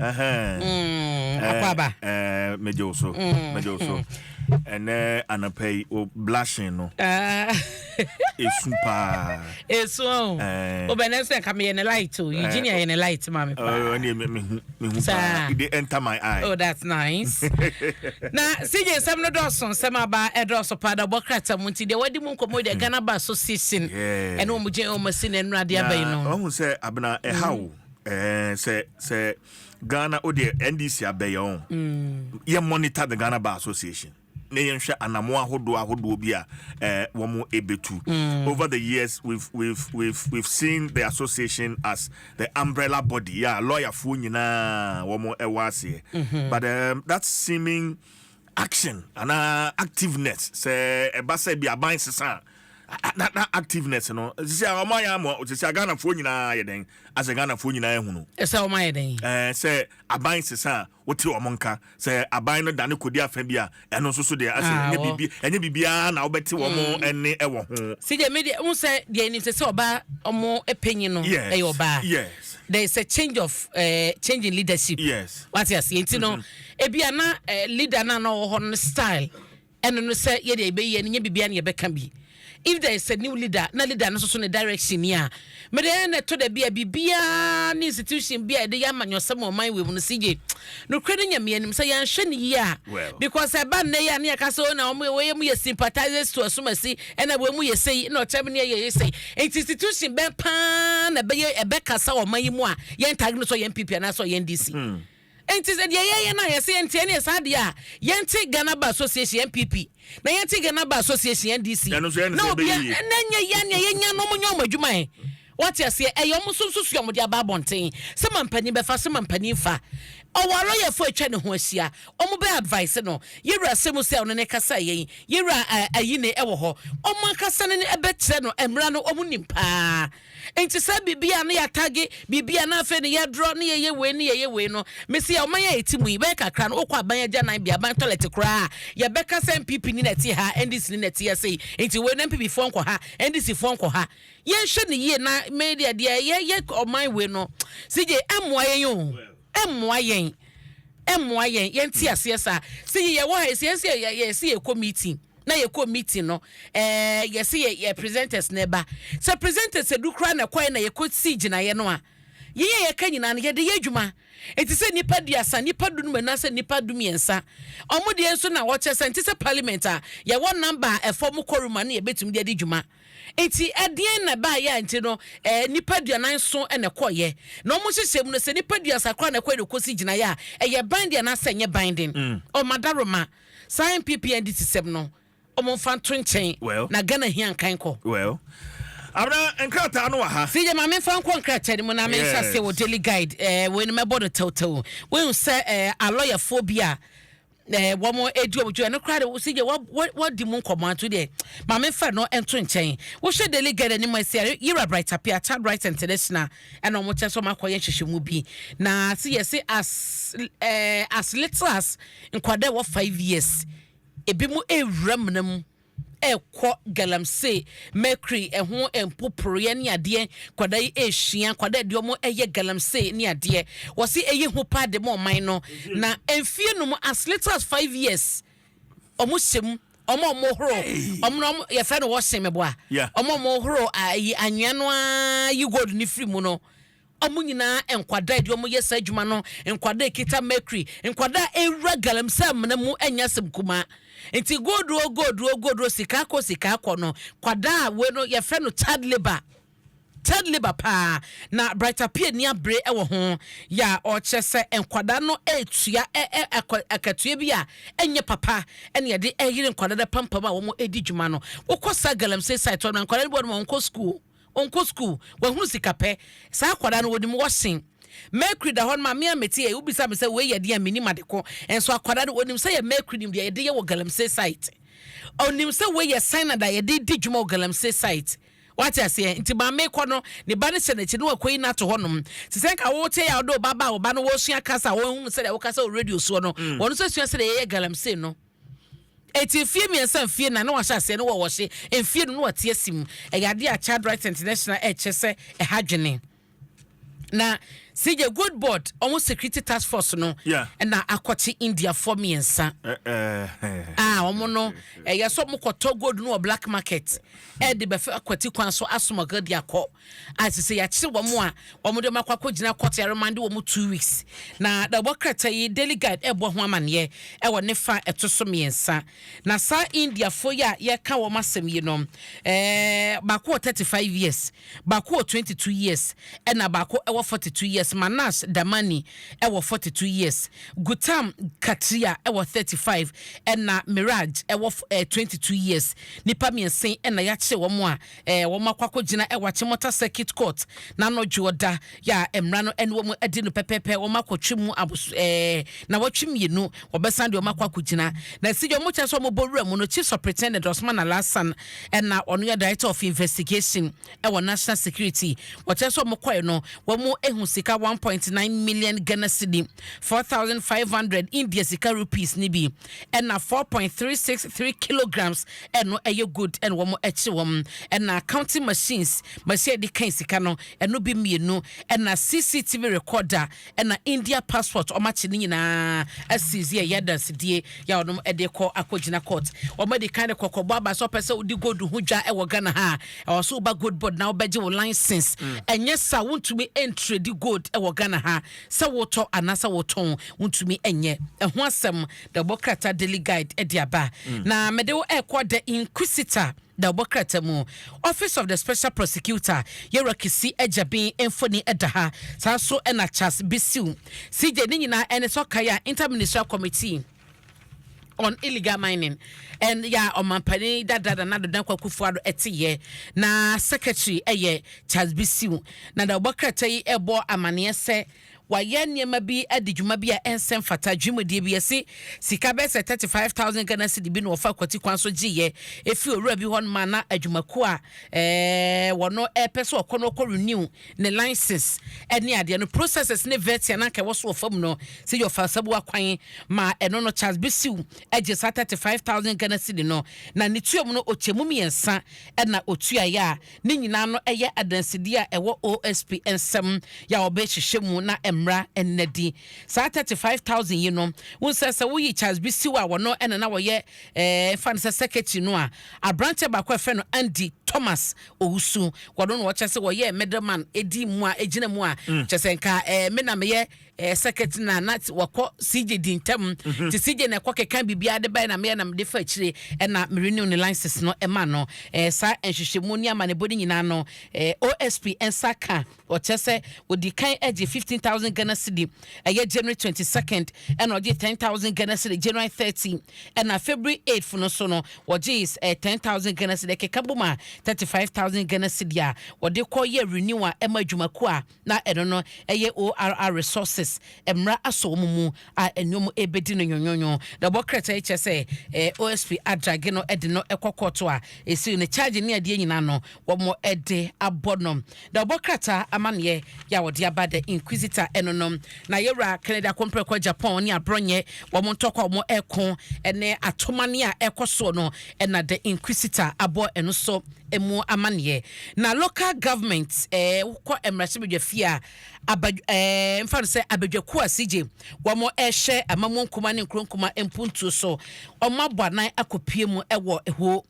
Mm, Akwaaba. Eh, eh, megye wo so. Mm. Megye wo so. Ɛnɛ anapa yi, o blushing no. Ah. Esu paa. Esu o. Eh. O bɛnɛ sɛ nka meyɛ ne light o. Eh. Eugenia yɛ ne light ma me paa. Oh, ɛne me me hu me hu paa. It dey enter my eye. Oh, that's nice. Na CJ nsɛm no dɔɔso nsɛm aba ɛdɔɔso paa da bɔ krata mu nti deɛ wadi mu nkɔmɔ deɛ hmm. Ghana ba association. Ɛne wɔn gyɛn wɔn asi na nnura de aba yi no. Na ɔhun sɛ abena ɛha o. Eh, sɛ sɛ ghana o deɛ ndc abɛyɛ ɔn mm. yɛ monitor the ghana bar association na yɛnhwɛ anamoa ahodoɔ ahodoɔ bi a eh, wɔn ebetu mm. over the years we've we've we've we've seen the association as the umbrella body ya yeah, lɔyafoɔ nyinaa wɔn ɛwɔ aseɛ mm-hmm. but um, that seeming. Action anaa activeness, sɛ ɛba sɛ bi aban sesa a, na na activeness no, sisi a wɔn ayɛ ama, sisi a Ghanafoɔ nyinaa ayɛ dɛn, asɛ Ghanafoɔ nyinaa ahunu. Sɛ wɔn ayɛ dɛn. Ɛɛ sɛ aban sesa a, wote wɔn nka, sɛ aban no dane kɔdi afa bi a, ɛno nso so deɛ, asɛ Ah, ɛnyɛ wɔ. biribi, ɛnyɛ biribiara na wobɛte wɔn ɛnne ɛwɔ ho. See deɛ me deɛ, wohu sɛ deɛ yɛnim sɛ sɛ ɔbaa wɔn panyin no Yes, ɛyɛ ɔbaa. yes. There is a change of eh, change in leadership. Yes. Wate aseɛ nti no. Ebia na leader no a na ɔwɔ hɔ no ne style ɛno no sɛ yɛde ɛbɛyɛ no nyɛ biribiara na yɛbɛka bi. If there is a new leader na leader no nso so ne direction ni a, mede ɛyɛ na ɛtɔ da bi a biribiara ne institution bi a yɛde yɛ amanyɔsɛm wɔ ɔman wei mu no si gye. Nokorɛ no nyame anim sɛ yɛanhwɛ no yie a because ɛba nnɛ yi a ne yɛka sɛ o na wɔn wɔyɛ mu yɛ sympathizers to asumasi ɛna wɔn mu yɛ sei na ɔkyɛ me ne yɛ yɛ sei. Nti institution bɛn paa na ɛbɛyɛ ɛbɛkasa wɔ ɔman yi mu a yɛntag no sɛ ɔyɛ NPP anaasɛ ɔyɛ NDC. Enti sɛ deɛ yɛyɛ no a yɛsɛ yɛnte ɛneɛ saa deɛ a yɛnte Ghana Bar Association, NPP, na yɛnte Ghana Bar Association, NDC, na obia, na ɛnyɛ yɛn nea yɛnya no ɔmo nyɛ ɔmo adwuma ɛ, wate aseɛ, ɛyɛ ɔmo nso nso so a ɔmo de aba abɔnten sɛ ma mpanin bɛfa so ma mpanin fa, ɔwɔ alɔyafoɔ a atwa ne ho ahyia, ɔmo bɛ advice no, yɛwura Asemusi a ɔno ne kasa yɛn, yɛwura Ayine ɛwɔ hɔ, ɔmo ankasa ne ne ɛbɛkyerɛ no mmra no ɔmo nim paa. Nti saa biribi a na yɛatagge biribi a na afei na yɛdrɔ na yɛyɛ wei ne yɛyɛ wei no, mese yɛ ɔman yi a yɛte mu yi, bɛyɛ kakra no wokɔ aban agyananbea, aban tɔlɛt koraa a, yɛbɛka sɛ NPP ni na ɛte ha, NDC ni na ɛte ha sei, nti wei no NPP foɔ nkɔ ha, NDC foɔ nkɔ ha. Yɛnhwɛ no yie na me deɛ deɛ yɛyɛ ɔman wei no, CJ, ɛmmoa yɛn o, ɛmmoa yɛn, ɛmmoa yɛn, yɛnte aseɛ saa. CJ, yɛwɔ ha yi, sɛ yɛse yɛkɔ meeting, na yɛkɔ meeting no ɛɛ yɛsi yɛ yɛ presenters na ɛba sɛ presenters edu koraa na ɛkɔɛ na yɛkɔ si gyinaeɛ no a yɛn a yɛka nyinaa no yɛde yɛ adwuma eti sɛ nipa duasa nipa dunum anaasɛ nipa dumiɛnsa wɔn deɛ nso na wɔkyɛ sɛ nti sɛ parliament a yɛwɔ namba a ɛfɔ mu kɔrum a ne yɛbɛtumi de adi dwuma eti ɛdeɛn na ɛbaayɛ a nti no ɛɛ nipa duanan so na ɛkɔyɛ na wɔn hyehyɛ mu no sɛ nipa duasa koraa na ɛkɔyɛ na ɛkɔsi gyinaeɛ a ɛyɛ binding anaasɛ ɛnyɛ binding ɔmadaroma. Mm. Saa NPP NDC sɛm no ɔmo nfa nto nkyɛn Well. na Ghana hia nkan kɔ. Well, abena nkrataa no wɔ ha. CJ ma me nfa nkɔ nkrataa no mu na me nhyɛ aseɛ wɔ Yes. daily guide ɛɛ wei no mɛbɔ no tɛwtɛw wohu sɛ ɛɛ alɔyafoɔ bi a ɛɛ wɔn edi wɔn dwuma ɛno koraa de CJ wa wa wadi mu nkɔmɔ ato deɛ ma me nfa no nto nkyɛn wohyɛ daily guide anim ɛsɛ yɛrɛ yira bright apia child rights international ɛna wɔn kyɛ sɛ wɔn akɔyɛ nhyehyɛmu bi na se yɛ se as ɛɛ as little as nkwadaa ɛwɔ five years ebi mu ewura mena mu ɛkɔ galamsey mercury ɛho mpoporoyɛ ne adeɛ nkwadaa yi ehyia nkwadaa ɛde wɔn ɛyɛ galamsey ne adeɛ wɔsi eyi ho paa de mo ɔman no na mfie no mu as little as five years. Ɔmo sɛ mu, ɔmo ɔmo horo, ɔmo na ɔmo yɛfrɛ no wɔsen mɛbo a, ɔmo ɔmo horo ayi anwea no ara yi gold ne firi mu no. Ɔmo nyinaa nkwadaa edi ɔmo yɛ saa adwuma no, nkwadaa ekita mercury, nkwadaa ewura galamsey amena mu ɛnyɛ asɛm kumaa. Nti gold o gold o gold o sika kɔ sika kɔ no, kwadaa wei no yɛfrɛ no child labour. Third labour paa na Bright Appiah nni abere wɔ ho yɛ a ɔrekyerɛ sɛ nkwadaa no retua ɛ ɛ akwa akatua bi a ɛnyɛ papa ne ɛde reyere nkwadaa no apampam a wɔredi dwuma no. Wokɔ saa galamsey site hɔ no a, nkwadaa no bi wɔ hɔ no ma wɔnkɔ sukuu o, wɔnkɔ sukuu, wɔahunu sikapɛ. Saa akwadaa no wɔnim washing. Mercury da hɔ no ma me a mete yɛ, wobisa me sɛ wei yɛ deɛ a mennim ade ko, nso akwadaa no ɔnim sɛ yɛ mercury nim deɛ yɛde yɛ wɔ galamsey site. Ɔnim sɛ wei yɛ cyanide a yɛde di dwuma wɔ galamsey site. Wate aseɛ? Nti maame rekɔ no, ne ba no hyɛ n'akyi na wakɔyi no ato hɔnom. Te sɛ nka wote a wode wo ba ba wo ba no wɔresua kasa a wɔhunu sɛdeɛ wokasa wɔ radio soɔ no, mm. wɔn nso sua sɛdeɛ yɛyɛ galamsey no. Eti mfie mmiɛnsa mfie nnan na wahyɛ aseɛ no wɔ wɔhye mfie no na wate asim. Ɛyɛ adeɛ a Child Rights International ɛkyɛ sɛ ɛha dwene. Na CJ Gold Board wɔn security task force no na akɔkye Indiafoɔ mmiɛnsa a wɔn no ɛyɛ sɛ wɔn kɔtɔ gold no wɔ black market ɛde bɛfɛ akwati kwan so asomɔgɔ de akɔ a sisi yɛakyere wɔn a wɔn de wɔn akɔ akɔgyina kɔtɔ yɛremande wɔn two weeks na na ɛbɔ krataa yi Daily Guide ɛbɔ ho amaneɛ ɛwɔ ne fa ɛto so mmiɛnsa. Na saa Indiafoɔ yi a yɛreka wɔn asɛm yi no, eh, baako wɔ thirty five years, baako wɔ twenty two years, ɛna baako wɔ forty two years. Manash Damani wɔ forty two years, Gutam Katria wɔ thirty five, ɛna Miraj wɔ twenty two years. Nnipa mmiɛnsa yi na yɛakyere wɔn a Ɛɛ, wɔakɔ akɔgyina wɔ Achimota Circuit Court n'anɔdwo ɔda yɛ a mmara no ne wɔn adi no pɛpɛɛpɛ. Wɔakɔtwe mu abos ɛɛ nnawɔtwe mmienu. Wɔbɛsan de wɔn akɔ akɔgyina. Na sɛ deɛ wɔkyerɛ sɛ wɔbɔ wuram no, Chief Superintendent Osman Alhassan na ɔno yɛ Director of Investigation wɔ National Security. Wɔkyerɛ sɛ wɔkɔe no, wɔahu sika one point nine million Ghana cedi, four thousand five hundred India sika rupees, no bi. ɛna four point three six three kilograms ɛno ɛyɛ good ɛna wɔn ɛkye wɔn ɛna accounting machines machine ɛde kan sika no ɛno bi mmienu ɛna cctv recorder ɛna india passport wɔn akye ne nyinaa asizi ɛyɛ adansidie yɛ a wɔn ɛde kɔ akɔgyina court wɔn ɛde kan de kɔkɔbɔ aba sɛ ɔpɛ sɛ wodi gold ho dwa ɛwɔ ghana ha ɛwɔ so woba gold board na wɔbɛgye wo license ɛnyɛ sa wontumi ɛntredi gold ɛwɔ ghana ha Sɛ wotɔ anaasɛ wotɔn, wontumi nyɛ ɛho asɛm. Dɛ ɔbɔ krataa Daily Guide de aba. Na mede wo rekɔ The Inquisitor, dɛ ɔbɔ krataa mu. Office of the Special Prosecutor, Yɛwura Kisi Agyabin mfoni da ha. Saa nso na Charles Bisiw. CJ ne nyinaa ne sɛ ɔkae a Inter-Ministerial Committee. on illegal mining and yɛ a ɔmampanin dada Nana Addo Dankwa Akufo-Addo ɛte yɛ na secretary ɛyɛ Charles Bisiw na na ɔbɔ krataa yi ɛbɔ amaneɛ sɛ wayɛ nneɛma bi adi dwuma bi a ɛnsɛ mfata dwumadie bi yɛsi sika bɛyɛ sɛ 35000 Ghana cedi bi na wɔfa akwati kwan so gye yɛ efi owura bi hɔ ma na adwumakuo a ɛɛ wɔn ɛpɛ sɛ ɔkɔ no ɔkɔ renew ne license ne adeɛ no processes ne vɛtia no anka ɛwɔ so wɔ fam no sɛ yɛ ɔfa sabuwa kwan ma ɛno no Charles Bisiw gye saa 35,000 Ghana cedi no na ne tua mu no ɔkyɛ mu mmiɛnsa na ɔtuaeɛ a ne nyinaa no ɛyɛ adansedie a ɛwɔ OSP nsam yɛ a wɔbɛhyehyɛ mu na mmara nna di saa 35,000 yi no wo nsɛ sɛ woyi Charles Bisiw a wɔno ɛna na wɔyɛ ɛɛ fa no sɛ secretary no a aberanteɛ baako a ɛfrɛ no Andy Thomas Owusu, wɔno na ɔkyɛ sɛ wɔyɛɛ middleman di mu a egyina mu a kyɛ sɛ nka ɛɛ me na meyɛ ɛɛ secretary na na wɔkɔ CJ di ntam mhm. te CJ na ɛkɔ keka biribiara de bae na meyɛ na mede fa akyire ɛna me renew ne license no ɛma no ɛɛ saa nhwehwɛmu ne amanebɔ no nyinaa no ɛɛ OSP nsa ka Ɔkyerɛ sɛ ɔdi kan gye fifteen thousand Ghana cedi ɛyɛ January twenty second ɛna ɔgye ten thousand Ghana cedi January thirty ɛna February eighth no nso no ɔgye ɛɛ ten thousand Ghana cedi ɛkeka bom a thirty five thousand Ghana cedi a ɔde kɔ yɛ renew a ɛma adwumakuo a na ɛno no ɛyɛ ORR Resources mmara asɔ wɔn mu a nnwom rebɛdi no nwonwonwo, na ɛbɔ krataa yi kyerɛ sɛ OSP adrage no de no kɔ kɔɔto a ɛsiw no charge ne adeɛ nyinaa no wɔde abɔ no, na ɔbɔ krataa amanneɛ yɛ a wɔde aba The Inquisitor ɛno no. Na Yɛwura Kennedy Akompreko Japan ne Aborɔnyɛ wɔn ntɔkwa a wɔreko ne atomane a ɛrekɔ soɔ no na The Inquisitor abɔ ɛno so mu amanneɛ. Na local government wokɔ mmarahyɛbadwafie a, abad ɛɛ mfa no sɛ abadwakuo a CJ wɔn ɛhyɛ amamuo nkuma ne nkuro nkuma mpuntuo so wɔn abɔ anan akɔpue mu ɛwɔ ɛhoo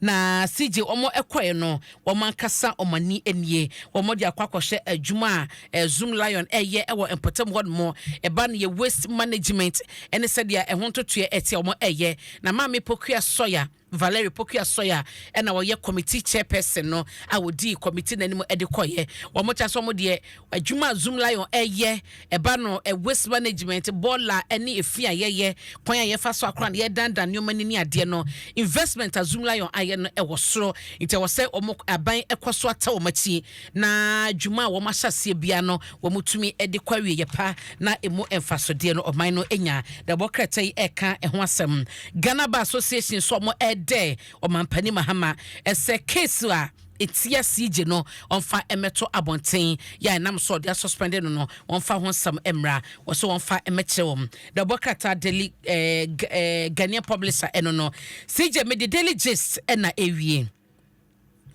na CJ wɔn ɛkɔɛ no wɔn ankasa wɔn ani nie wɔn de akɔ akɔhyɛ adwuma a ɛɛ Zoom Lion ɛyɛ ɛwɔ mpɔtam hɔ nom ɛba no yɛ waste management ɛne sɛdeɛ ɛho ntotoɛ ɛteɛ wɔn ɛyɛ na maame Pokuya Sawyer Valerie Pokuah-Soya na ɔyɛ committee chairperson no a ɔdii committee no anim de kɔeɛ. Wɔkyerɛ sɛ wɔn deɛ adwuma a Zoom Lion reyɛ, ɛba no waste management, bɔɔla ne efi a yɛyɛ, kwan a yɛfa so akora no, yɛredandan nneɛma no ne adeɛ no, investment a Zoom Lion ayɛ no wɔ soro. Nti ɛwɔ sɛ wɔn aban kɔ so atɛ wɔn akyi. na dwuma a wɔahyɛ aseɛ biara no wɔtumi de kɔ awieɛ pa na ɛmu mfasodeɛ no ɔman no nya. Na ɛbɔ krataa yi ɛka ɛho asɛm. Ghana Bar Association nso wɔdɛ ɔmampanin Mahama sɛ case a ɛtia CJ no wɔmfa mmɛto abɔnten, yɛ a ɛnam so a wɔde asuspɛnde no no wɔmfa ho nsɛm mmra, wɔsɛ wɔmfa mmɛkyerɛ wɔn. Na ɛbɔ krataa Daily eh, eh, Ghanaian Publisher ɛno no CJ mede Daily Gist na ɛwie.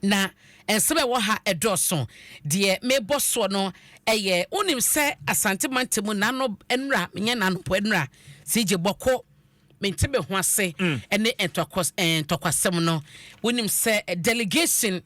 Na nsɛm a ɛwɔ ha dɔɔso. Deɛ mebɔ soɔ no yɛ, wonim sɛ Asante mantam mu nano nnura, menyɛ nanopɔ nnura, CJ Bɔko, mente me ho ase ne ntɔkwas, eh, ntɔkwasɛm no. Wonim sɛ delegation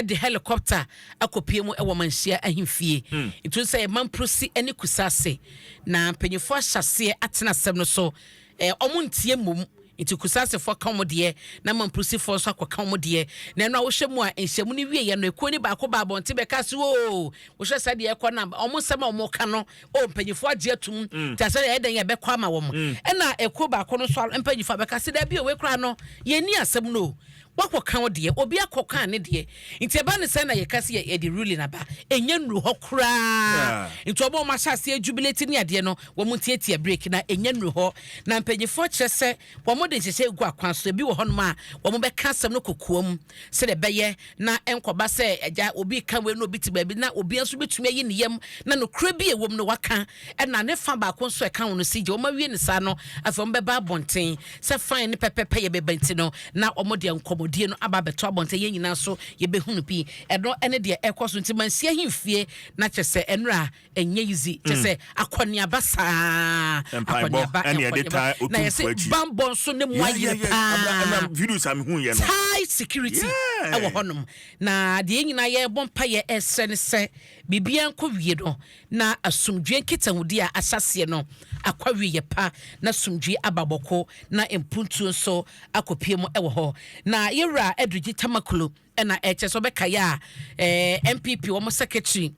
de helicopter akɔpie mu wɔ manhyia ahemfie. Nti sɛ yɛ mamprosi ne kusase. Na mpanyinfoɔ ahyɛ aseɛ atena asɛm no so. Ɛɛ, ɔmo nteɛ mmom. Nti Kusasefoɔ ka ɔmo deɛ, na Mampusifoɔ nso akɔka ɔmo deɛ. Na ɛno a wohwɛ mu a, nhyiamu no wieɛ no, ekuo no baako baa abɔnten bɛkaa se, Oo! Wohwɛ sɛdeɛ ɛrekɔ no a, ɔmo nsɛm a ɔmo reka no, oo, mpanyinfoɔ agye atum, nti asɛ yɛyɛ dɛn yɛbɛkɔ ama wɔn? Ɛna ekuo baako no nso mpanyinfoɔ abɛka se, Dabi o, wei koraa no, yɛnni asɛm no o. Woakɔ ka wo deɛ, obi akɔ kaa ne deɛ, nti ɛba no saa na yɛka sɛ yɛde ruling aba, ɛnyɛ nnuru hɔ koraa, nti wɔn a wɔn ahyɛ aseɛ jubilate ne adeɛ no wɔn ntiatia break na ɛnyɛ nnuru hɔ, na mpanyinfoɔ kyerɛ sɛ wɔn de nhyehyɛɛ gu akwan so, ebi wɔ hɔnom a wɔn bɛka asɛm no kokoam sɛdeɛ ɛbɛyɛ na ɛnkɔba sɛ agya obi reka wei na obi te baabi na obiara nso bɛtumi ayi ne yam na nokorɛ bi a ɛwɔ mu no waka. ɛna ne fa baako nso a ɛka ho no sigye. Wɔawie no saa no, afei wɔbɛba abɔnten sɛ fine ne pɛpɛpɛ yɛ bɛba nti no, na wɔde nkɔmmɔdie no aba abɛto abɔnten. Yɛn nyinaa nso yɛbɛhunu bi. Ɛno ne deɛ ɛrekɔ so nti mansi ahemfie na kyɛ sɛ ɛnora ɛnyɛ easy. Kyɛ sɛ akɔneaba saa, akɔneaba, nkɔneaba. Na yɛ se bammɔ nso ne mu ayere paa. Thai security ɛwɔ hɔnom. Na deɛ yɛn nyinaa yɛrebɔ mpaeɛ ɛresrɛ ne sɛ biribiara nkɔ wie no, na asomdwoeɛ nkitahodi a ahyɛ aseɛ no akɔ awieeɛ pa, na asomdwoeɛ aba bɔko, na mpuntuo nso akɔpue mu wɔ hɔ. Na yɛn Wura Adurigi Tamaklo na ɛkyerɛ sɛ ɔbɛkaeɛ a ɛɛ NPP wɔn secretary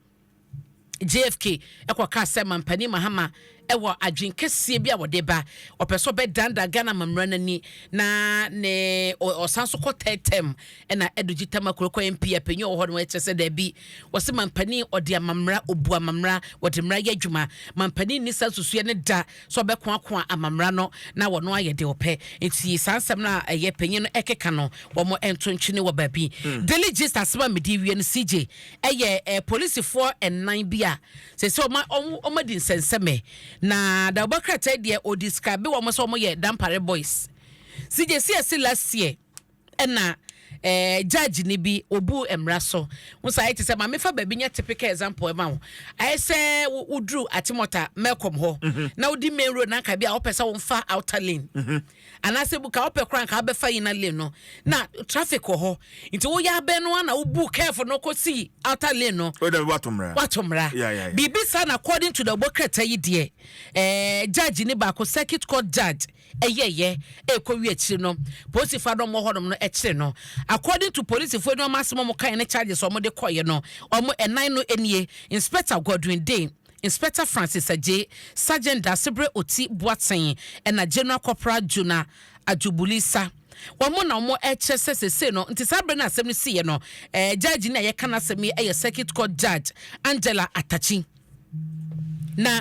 JFK kɔkaa sɛ Mampanin Mahama wɔ adwene kɛseɛ bi a wɔde ba, ɔpɛ sɛ ɔbɛdandan Ghana amammerɛ no ani, na ne ɔsan nso kɔ third term, ɛna Ado Gyitama Korokɔ MP a panyin a ɔwɔ hɔ no kyerɛ sɛ daabi, wɔse mampanin ɔde amammerɛ, ɔbu amammerɛ, wɔde mmara yɛ adwuma, mampanin nni saa nsusuiɛ no da sɛ ɔbɛkoakoa amammerɛ no na wɔno ayɛ deɛ ɔpɛ, nti saa nsɛm no a ɛyɛ panyin no ɛkeka no, wɔn nto ntwene wɔ baabi. Daily Gist asɛm a mede rewie no, CJ, ɛyɛ polisifoɔ nnan bi a. Seesei wɔma wɔn wɔadi nsɛnsɛmɛ. Na Dawoba krataa yi deɛ ɔdescribe wɔn sɛ wɔyɛ Dampare boys. Sigye si ɛse last year ɛna eh, judge ni bi obu mmara so ho saa ayɛ te sɛ ma mefa baabi nyɛ typical example ɛma wo ayɛ sɛ wo- woduru atemɔta malcolm hɔ na wodi main road na anka bi a wopɛ sɛ womfa outer lane Anaasɛ bu ka wopɛ koraa nka wobɛfa inner lane no na traffic wɔ hɔ nti woyɛ abɛn no ana wobu curve no kɔsi outer lane no Wei dɛ wato mmara. wato mmara Yeah, yeah, yeah. biribi saa na according to the bɔkrata yi deɛ ɛɛ judge ne baako circuit court judge ɛyɛyɛ ɛkɔwie akyiri no polisifoɔ a na wɔwɔ hɔnom no ɛkyere no according to polisifoɔ no wɔn asɛm a wɔkaeɛ ne charges a wɔde kɔeɛ no wɔn ɛnan no nie Inspector Godwin Dame Inspector Francis Adjei, Sergeant Daasebrɛ Oti Boatsen ɛna General Corporal Jonah Adjobuli Sa. Wɔn na wɔn ɛrekyerɛ sɛ seesei no nti saa berɛ no a asɛm no siiɛ no ɛɛ Judge no a yɛka n'asɛm yi ɛyɛ Circuit Court Judge Angela Atakyi. Na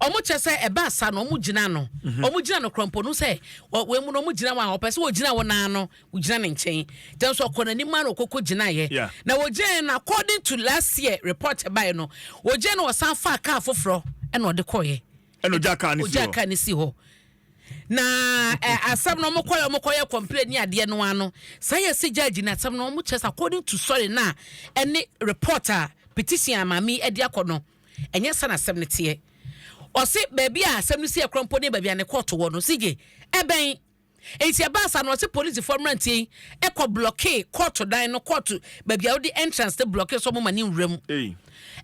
wɔn kyerɛ sɛ ɛbaa saa no wɔn gyinaa no, wɔn gyinaa no korɔ mpo no sɛ wɔ wei mu no wɔn gyina wɔn a wɔpɛ sɛ wɔgyina wɔn ara no Wogyina ne nkyɛn. Kyerɛ sɛ ɔkɔ n'anim ara na ɔkɔkɔ gyinaeɛ. Yeah. Na wɔgyinaeɛ no according to last year report ɛbaeɛ no, wɔgyinaeɛ no ɔsan faa kaa foforɔ ɛna ɔde kɔeɛ. Ɛna ɔgyaa kaa no si hɔ. Ɔgyaa kaa no si hɔ. Na ɛ asɛm no wɔn kɔeɛ wɔn kɔyɛ complain ne adeɛ no ano. Saa yɛ si judge no asɛm no wɔn kyerɛ sɛ according to sorry na ɛne report a petition a maame yi ɛde akɔ no ɛnyɛ sa na asɛm no teɛ. Ɔse baabi a asɛm no si ɛkorɔ mpo ne baabi a ne kɔɔto wɔ no. CJ ɛbɛn. Enti ɛbaa saa no, ɔse polisifoɔ mmeranteɛ yi kɔ blɔkee kɔɔto dan no, kɔɔto baabi a wode entrance no blɔkee so a wɔma no nwura mu.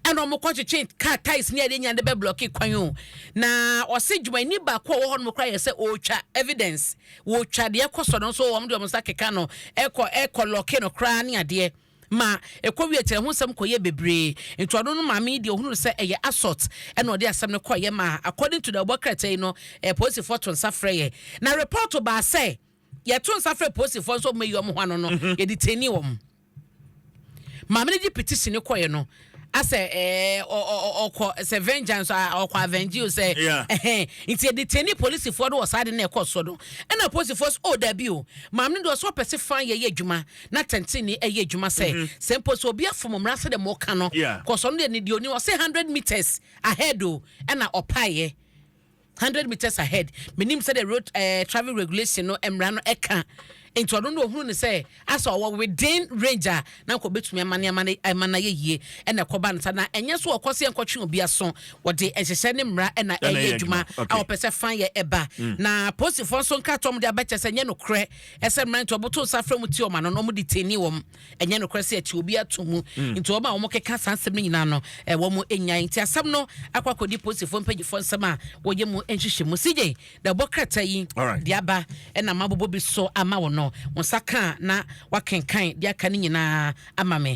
Ɛna wɔkɔtwetwe kaa tyres ne adeɛ nyinaa de bɛblɔkee kwan o. Na ɔse dwumayɛni baako a ɔwɔ hɔnom koraa yɛ sɛ ɔretwa evidence, wɔretwa deɛ ɛrekɔ so no nso wɔde wɔn nsa keka no, ɛkɔ ɛkɔ lɔkee no koraa ne adeɛ. ma ɛkɔwiee kyerɛ ho nsɛm kɔyɛɛ bebree. Ntoano no maame yi deɛ ɔhunu no sɛ ɛyɛ assault ɛna ɔde asɛm no kɔeɛ ma according to deɛ ɔbɔ krataa yi no polisifɔ to nsa frɛeɛ na report baa sɛ yɛto nsa frɛ polisifɔ nso ɔmɛyi ɔmo ho ano no yɛdetainee ɔmo. Maame no de petition no kɔeɛ no Asɛ ɛɛ ɔkɔ sɛ vengeance a ɔkɔ avenge o sɛ ɛhɛn nti edeteni polisifoɔ do wɔ saa ade na ɛkɔ soɔ do ɛna polisifoɔ so o dabi o maame no deɛ ɔsɛ ɔpɛ se fan yɛ yɛ adwuma na tɛnteni ɛyɛ adwuma sɛ sɛ mpo sɛ obi afom mmra sɛ dɛ mo ka no kɔsɔ no deɛ ne deɛ oni ɔsɛ hundred meters ahead o ɛna ɔpaeɛ. Hundred metres ahead menim sɛdeɛ road ɛɛ traffic regulation no mmara no ɛka nti ɔno no ohunu no sɛ asɛ ɔwɔ within range a na nka ɔbɛtumi ama nneɛma no ɛma no ayɛ yie ɛna ɛkɔba no sa na ɛnyɛ so ɔkɔ sɛ yɛnkɔtwe obi aso wɔde nhyehyɛ ne mmara ɛna Ɛna ɛyɛ ɛyɛ adwuma adwuma a okay wɔpɛ sɛ fan yɛ ɛba na polisifoɔ nso nkrataa a wɔde aba kyerɛ sɛ ɛnyɛ nokorɛ ɛsɛ mmeranteɛ wɔboto nsa frɛ wɔn ti wɔn ano na wɔn detain wɔn. ɛnyɛ nokorɛ sɛ ɛte obi ato mu mm. nti wɔn a wɔkeka saa nsɛm no nyinaa no eh, wɔn anya nti asɛm no akɔ akɔdi polisifoɔ mpanyifoɔ nsɛm a wɔyɛ mu nhyehyɛ mu sigye na ɛbɔ krataa yi de aba ɛna ma bobɔ bi so ama wɔn no wɔn nsa ka na wakenkan de aka no nyinaa ama me